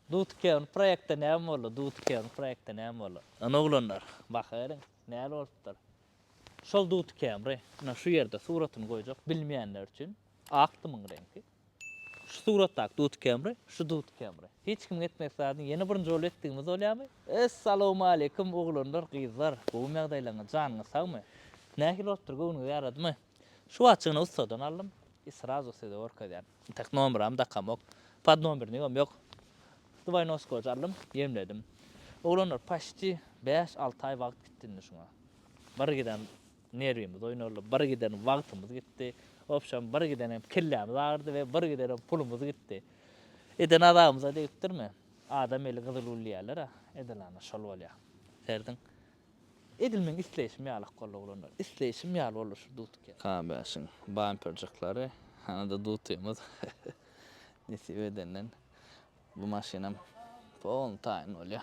Dutken proýekte näme boldy? Dutken proýekte näme boldy? Ine oglanlar, bakaveriň, näl bolupdyr. Şol dutkenri, ine şu ýerde suratyny goýjak, bilmeýänler üçin, ak dymyň reňki. Şu suratdaky dutkenri, şu dutkenri. Hiç kimiň etmedik zadyny ýene birinji bolup etdigimiz bolýarmy? Essalawmaleýkum oglanlar, gyzlar, gowumy ýagdaýlaryňyz, janyňyz sagmy? Nähili bolupdyr, göwnüňize ýaradymy? Şu watjygyny ussadan aldym i srazu size görkezýän. Tak nomeram dakamok. Pod nomerniňem ýok. Dwaynoskojy aldym, ýemledim. Oglanlar paşti bäş, alty aý wagt gitdi indi şuňa. Bir giden nerwimiz oýnaldy, bir giden wagtymyz gitdi. Wobşem, bir giden hem kellämiz agyrdy we bir giden hem pulumyz gitdi. Eden azabymyza degipdirmi? Adam eli gyzyl gül diýýärler-ä, edilana şol bolýar. Serdin Edil meň isleýşim ýaly-ak boldy oglanlar. Isleýşim ýaly boldy şu dudky. K-bäşiň bamperjikleri, hany-da dudkymyz. Nesip edenden bu maşynam polny taýyn bolýa.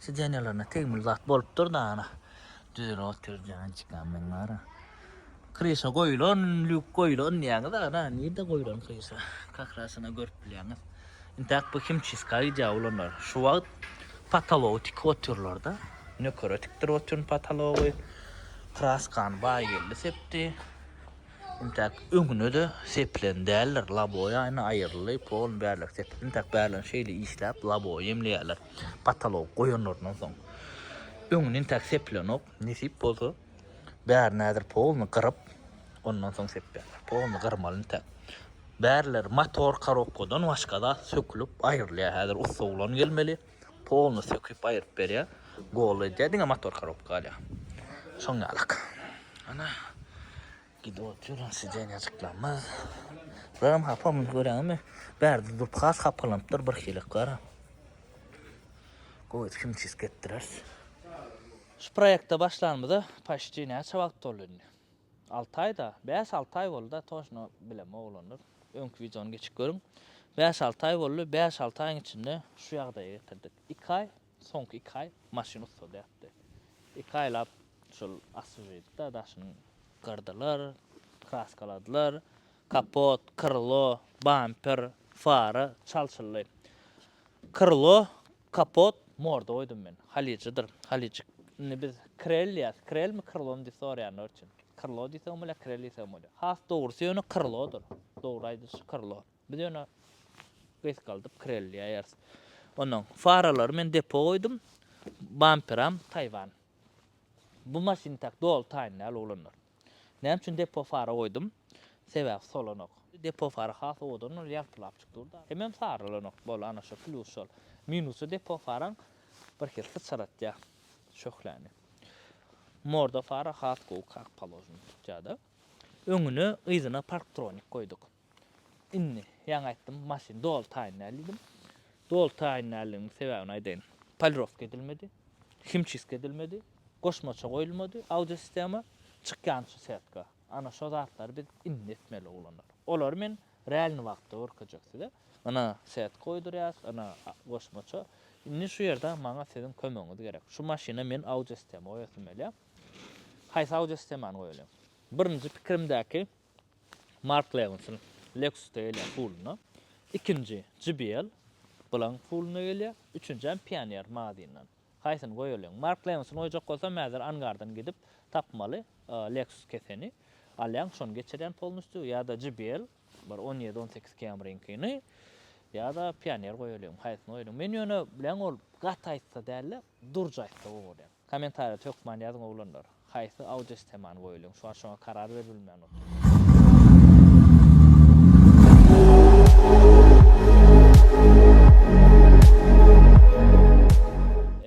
Sidenýalarynda tegmil zat bolupdyr da ana. Düzülip otyr jançkam meň bara. Kryşa goýulan, lýuk goýulan diýýäňiz ana. Nirde goýulan kryşa? Kakrasyna görüp bilýäňiz. Intäk bu himçiska gidýär olanlar. Şu wagt potology tikip otyrlar-da. Nökere tikdirip otyryn potology. Kraskany Baýgeldi sepdi. Intäk öňüne-de sepilen däldir. Laboýaýna aýryldy. Polny bärleki sepip, intäk bärlerini şeýle işläp, laboýy jemleýärler. Patalogy goýanlaryndan soň öňüni intäk seplenok, nesip bolsa bärini häzir polny gyryp, ondan soň sepýärler. Polny gyrmaly intäk. Bärileri motor korobkadan başga zat sökülip aýrylýar. Häzir ussa oglan gelmeli, polny söküp aýryp berýär. Goly edýär, diňe motor korobka galýar. Şoň ýalyk. Ana Gidip otur, sidenýajyklamyz. Bulam hapa muny göräňmi? Bärde durup has hapalanypdyr bir hilek gara. Gowy kimçisk etdireris. Şu proýekte başlanymyza paşti näçe wagt boldy indi? Alty aý da, bäş-alty aý boldy da, toşna bilemok oglanlar. Öňki wideony geçip görüň. Bäş-alty aý boldy, bäş-alty aýyň içinde şu ýagdaýa getirdik. Iki aý Soňky iki aý maşyn ussady ýatdy. Iki aýlap şol assujedi-de daşyny gyrdylar, kraskaladylar. Kapot, krlo, bamper, fara çalşyldy. Krlo, kapot, morda goýdum men. Halyjydyr. Halyjyk. Indi biz krel diýýäs. Krelmi, krlomy diýip soraýanlar üçin. Krlo diýseň bolýar, krel diýseň bolýar. Has dogrusy ýöne krlodyr. Dogry aýdylyşy krlo. Biz ýöne gysgaldyp kirelýäýeris. Ondan faralary men depo goýdum. Bamperam Taýwan. Bu maşyn tak doly taýyn däl oglanlar. Näme üçin depo fara goýdum? Sebäbi solanok. Depo fara has owadan ol ýagtylap çyk dur-da. Hemem sarylanok. Bol ana şo plýus şol. Minusy depo faraň birhili syçratýar şöhläni. Morda fara has gowy kak paložni tutýar-da. Öňüne yzyna parktronik goýduk. Indi, ýaňy aýtdym, maşyny dolutaýyn däl diýdim. Dolutaýyn däldigimiň sebäbini aýdaýyn. Polirowka edilmedi, himçistka edilmedi, goşmaça goýulmady audiosistema, çykýan şu setka. Ana, şo zatlary biz indi etmeli, oglanlar. Olary men realny wagtda görkezjek size. Ana, setka goýdurýas, ana, goşmaça. Indi şu ýerde maňa siziň kömegiňiz gerek. Şu maşyna men audiosistema goýasym gelýär. Haýsy audiosistemany goýalyň? Birinji pikirimdäki Mark Lewinsson Lexus-da gelýär puluna, ikinji JBL Blanc puluna gelýär, üçünjäm Pioneer Mazin-dan. Haýsyny goýalyň? Mark Lewinsson goýjak bolsam häzir Angardan gidip tapmaly Lexus keseni. Alýaň şony geçirýän polnistýu ýa-da JBL bir on ýedi-on sekiz Camry-ňkini ýa-da Pioneer goýalyň. Haýsyny goýalyň? Men ýöne bileň ol gaty aýtsa däl-de, Durj aýtsa gowy bolýar. Komentarýada hökman ýazyň oglanlar. Haýsy audio sistemany goýalyň. Şu wagt şoňa karar berilmän otyr.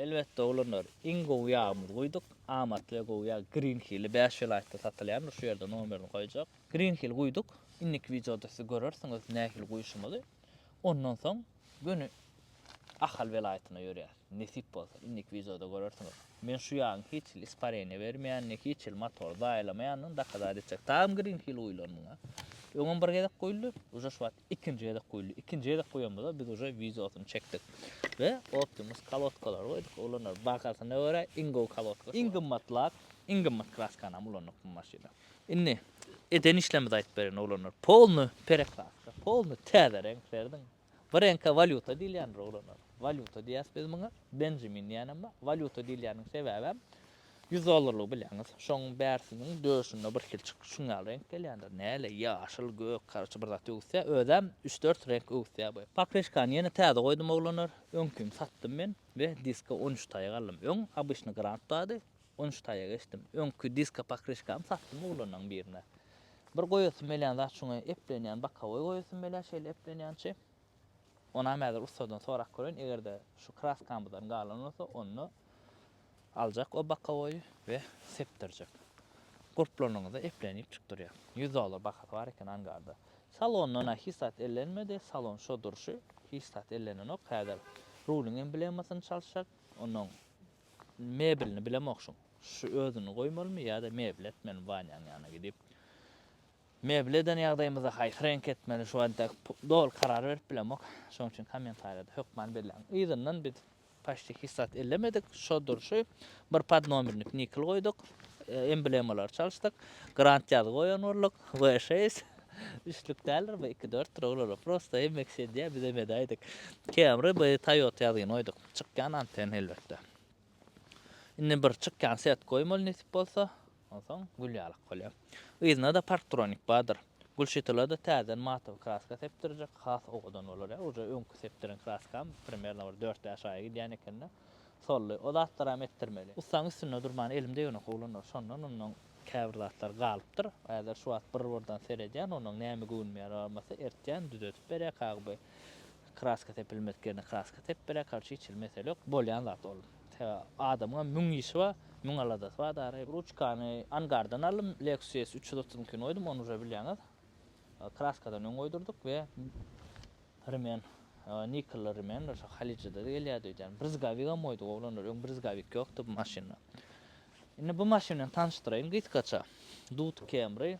Elbetde oglanlar iň gowy ýagymyzy guýduk. Amatly we gowy ýag Green Hilli bäş welaýatda satylýandyr. Şu ýerde nomerini goýjak. Green Hill guýduk. Indiki wideoda siz görersiňiz nähili guýuşymyzy. Ondan soň. Göni Ahal welaýatyna ýörýär. Nesip bolsa, indiki wideoda görersiňiz. Men şu ýagyň hiç hili ispareniýa bermeýänini, hiç hili motory zaýalamaýanyny dokazat etjek. Dagym green hil guýulan muňa. Öňem bir gezek guýuldy, uje şu wagt ikinji gezek guýuldy. Ikinji gezek guýanymyzda biz uje wideosyny çekdik we Optimus kolodkalary goýduk. Olar bahasyna görä iň gowy kolodka. Iň gymmat lak, iň gymmat kraskanam ulandyk bu maşynda. Indi eden işlerimizi aýdyp bereýin oglanlar. Polny pereklastka, polny täze reňk berdim. Bir reňke walýuta diýilýändir oglanlar. Walýuta diýýäs biz muňa. Benjamin diýýänem bar. Walýuta diýilýäniniň sebäbem ýüz dollarlygy bilýäňiz. Şonuň bärsiniň döşünde bir hilçik şuň ýaly reňk gelýändir. Näle, ýaşyl, gök, karoçe bir zat öwüsýär. Özem üç-dört reňk öwüsýär bu. Pokryşkany ýene täze goýdum oglanlar. Öňkini satdym men we diska on üç taýak aldym. Öň obyçny grant bardy. On üç taýak eşitdim. Öňki diska pokryşkamy satdym oglanyň birine. Bir goýasym gelýän zat şuňa eplenýän bokowoý goýasym gelýär şeýle eplenýänçi. Onam häzir ussadan sorap göreýin eger-de şu kraskamyzdan galan bolsa onda aljak o bokowoýy we sepdirjek. Gurplanyňyza eplenip çyk durýar. Ýüz dollar bahasy bar eken angarda. Salondan-a hiç zat ellenmedi, salon şo durşy hiç zat ellenenok häzir rulyň emblemasyny çalyşjak onnoň Meblini bilemok şuň. Şu özüni goýmalymy ýa-da mebli etmelimi Wanýaň ýanyna gidip. Mebli eden ýagdaýymyzda haýsy reňki etmeli şu wagta doly karar berip bilemok. Şoň üçin kommentariýada hökman belläň. Yzyndan biz paçti hiç zat ellemedik. Şo durşy bir podnomernik nikl goýduk. Emblemalary çalyşdyk. Grand ýazgy goýan bolduk. V6 üçlük däldir bu iki dörtdir oglanlar prosta hemme kişi edýär bizem edäýdik. Camry by Toyota ýazgyny goýduk. Çykýan anten elbetde. Indi bir çykýan set goýmaly nesip bolsa, onsoň gül ýalak bolýar. Yzynda-da Parktronik bardyr. Gülşytyla-da täzeden matowy kraska sepdirjek, has owadan bolar ýa. Uje öňki sepdiren kraskam primerno bir dört-bäş aýa gidýän eken-de, soldy. O zatlaram etdirmeli. Ussaň üstünde durman elim degenok oglanlar. Şondan onnoň käbir zatlar galypdyr. Häzir şu wagt bir-birden seredýän, onnoň näme göwnüm ýarabamasa ertýän, düzedip berýär Kagyby. Kraska sepilmedik ýerine kraska sepip beräýk hal çyt çil mesele ýok bolýan zat ol sebäbi adamyňam müň işi bar müň aladasy bar dary ruçkany angardan aldym lexus üç ýüz otuz ikiňi goýdum ony uje bilýäňiz kraskadan öň goýdurdyk we rimen nikelli rimendir şo halyjada da gelýärdi öýdýän brizgawigam goýduk oglanlar öň brizgawik ýokdy bu maşynda indi bu maşyn bilen tanyşdyraýyn gysgaça dut camry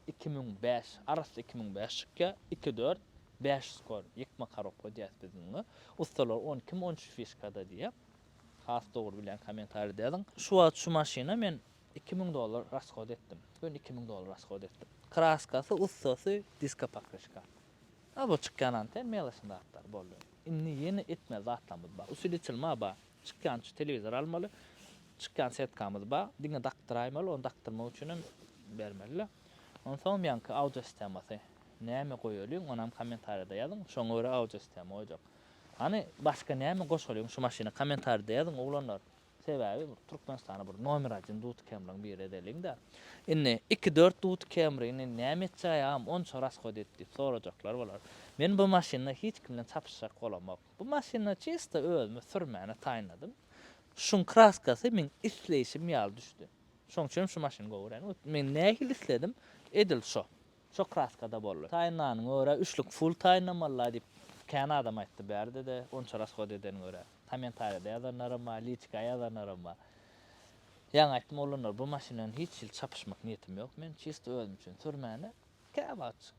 iki müň bäş, arassa iki müň bäş çykýa, iki dört, bäş skor, ýykma karobka diýäs biz muňa. Ussalar on iki, on üç fişkada diýýä. Has dogry bilýän kommentariýada ýazyň. Şu wagt şu maşyna men iki müň dollar raskod etdim. Göni iki müň dollar raskod etdim. Kraskasy, ussasy, diska pokryşka. A bu çykýan anten melaçny zatlar boldy. Indi ýene etmeli zatlarymyz bar. Usilitel ma bar. Çykýan şu telewizor almaly. Çykýan setkamyz bar. Diňe dakdyraýmaly, ony dakdyrmak üçin hem bermeli. Onsoňam ýaňky audio sistemasy näme goýalyň, onam kommentariýada ýazyň. Şoňa görä audio sistema goýjak. Hany başga näme goşalyň şu maşyna kommentariýada ýazyň oglanlar. Sebäbi bir Türkmenistana bir nomer один duty kemriň biri edeliňdä. Indi iki dört duty kemrini näme etjäý agam onça rashodyt diýip sorajaklar bolar. Men bu maşynda hiç kim bilen çapyşjak bolamok. Bu maşyny çysta özüme sürmäni taýynladym. Şuň kraskasy meň isleýşim ýaly düşdi. Şoň üçinem şu maşyny gowy görýän. Men nähili isledim, edil şo. Şo kraskada boldy. Taýynlanyňa görä üçlük full taýynlamaly-laý diýip, kän adam aýtdy bärde-de, onça rasgod edeniňe görä. Kommentariýada ýazanlaram bar, liçka ýazanlaram bar. Ýaňy aýtdym, oglanlar, bu maşyn bilen hiç hili çapyşmak niýetim ýok men. Çysta özüm üçin sürmäni, käwagt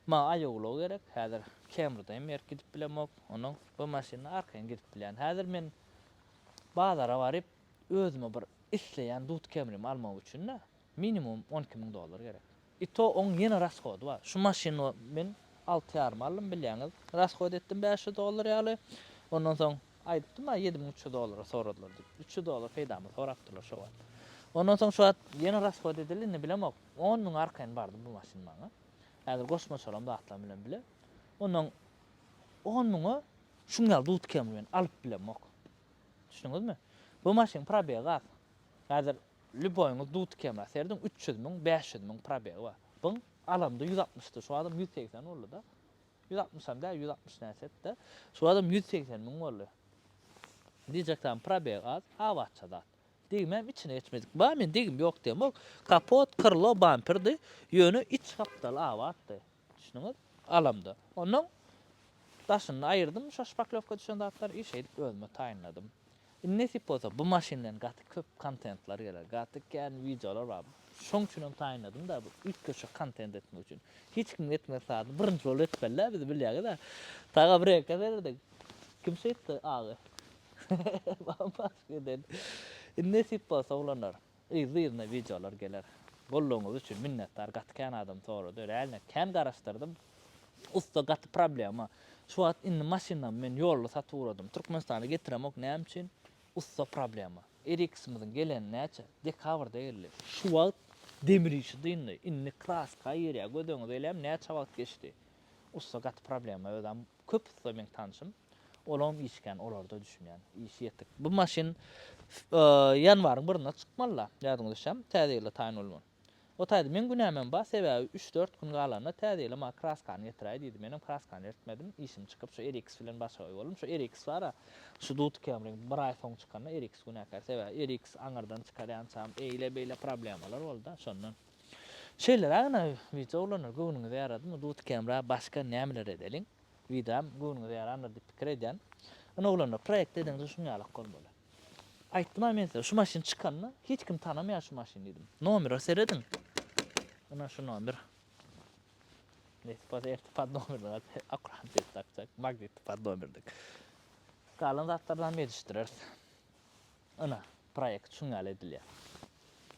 Maňa aýawulag gerek, häzir Kemrda hem erk gidip bilemok, onuň bu maşynda arkaýyn gidip bilýän. Häzir men bazara baryp, özüme bir isleýän dut Kemrimi almak üçin-de, minimum on iki müň dollar gerek. I to oň ýene rashody bar. Şu maşyny men alty ýarym aldym, bilýäňiz, rashod etdim bäş ýüz dollar ýaly. Ondan soň aýdypdym-a ýedi müň üç ýüz dollara soradylar diýip. Üç ýüz dollar peýdamy sorapdyrlar şo wagt. Ondan soň şu wagt ýene rashod edildi, indi bilemok. On müň arkaýyn bardy bu maşyn maňa. Häzir goşmaçalam zatlam bilen bile. Ondan on müňe şuň ýaly dut kemri bilen alyp bilemok. Düşündiňizmi? Bu maşynyň probegi az. Häzir lýuboýyňyz dut kemra serediň, üç ýüz müň, bäş ýüz müň probegi bar. Buň alamda ýüz altmyşdy, şu wagtam ýüz segsen boldy-da. Ýüz altmyşam däl, ýüz altmyş näçedir-de. Şu wagtam ýüz segsen müň boldy. Diýjek zat, probegi az, abatça zat. Degimem içine geçmedik. Ba men degim ýok diýem. Ol kapot, krlo, bamperdi. Ýöne iç gapdaly abatdy. Düşündiňiz? Alamda. Ondan daşyny aýyrdym şo şpaklewka düşen zatlary i şeýdip özüme taýynladym. Indi nesip bolsa bu maşyn bilen gaty köp kontentler geler. Gaty kän wideolar bar. Şoň üçin hem taýynladym-da bu üýtgeşik kontent etmek üçin. Hiç kim etmez sady. Birinji bolup etmeli-dä biz bilýäňiz-ä. Taga bir-eke serediň. Kim şeýtdi agy? Giden. Indi nesip bolsa oglanlar yzly yzyna wideolar geler. Goldawyňyz üçin minnetdar gaty kän adam sorady realno kän garaşdyrdym. Ussa gaty problema şu wagt indi maşynamy men ýolda satyp ugradym Türkmenistana getiremok näme üçin ussa problema. Eriksimiziň geleni näçe? Dekabrda geldi. Şu wagt demir işi dyndy. Indi kraska girýär göz öňüňize elem näçe wagt geçdi. Ussa gaty problema özem köp ussa meň tanşym olam işgän olarda düşünýän işi ýetik bu maşyn ýanwaryň birinde çykmalyda ýadyňyza düşýämi täze ýylda taýyn bolman o taýda meň günämem bar sebäbi üç dört gün galanda täze ýyla maňa kraskany getiräý diýdi menem kraskany ertmedim işim çykyp şu eriks bilen başagaý boldum şu eriks bara şu dudkam reňk bir aý soň çykanda eriks günäkär sebäbi eriks aňyrdan çykar ýançam eýle beýle problemalar bolda şondan. Şeýlerägine wideo oglana göwnüňize ýaradymy dut kemra başga nämeler edeliň wideom göwnüňize ýarandyr diýip pikir edýän ine oglanlar proýekt edeňde şuň ýalak bolmaly aýtdym-a men size şu maşyn çykanda hiç kim tanamaýar şu maşyny diýdim nomera serediň ine şu nomer nesip bolsa erte pod nomerine akurat ses dakjak magnitli pod nomerine galan zatlardanam gelişdireris ine Proýekt şuň ýaly edilýär.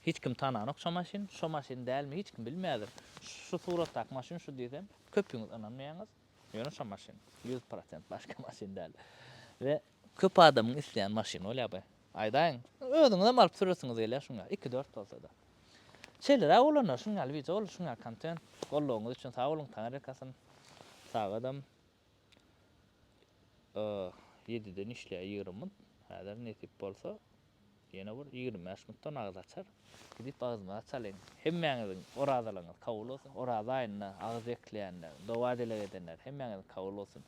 Hiç kim tananok şo maşyny. Şo maşyn dälmi hiç kim bilmeýädir. Şu suratdaky maşyn şu diýsem, köpüňiz ynanmaýaňyz. Ýöne şo maşyn. Ýüz prosent başga maşyn däl. We köp adamyň isleýän maşyny bolýar bu. Aýdaýyň, özüňizem alyp süresiňiz gelýär şuň ýaly. Iki-dört bolsa-da. Şeýleräk bolanda şuň ýaly wideo boldy, şuň ýaly kontent. Goldawyňyz üçin sag boluň, Taňyrýakasyn. Sag adam. ýediden işleýär ýigrimi munt, häzir nesip bolsa, ýene bir ýigrimi bäş muntdan agyz açar. Gidip agyzymyza çalyň. Hemmäňiziň orazalygyňyz kabul bolsun. Oraza aýynda agyz bekleýänler, doga-dileg edenler, hemmäňiziňki kabul bolsun.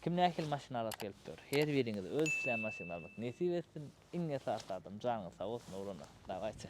Kim nähili maşyn alasy gelip dur, her biriňize öz isleýän maşynyňyzy almak nesip etsin. Iň esasy zadam, janyňyz sag bolsun, oglanlar. Dawayçy.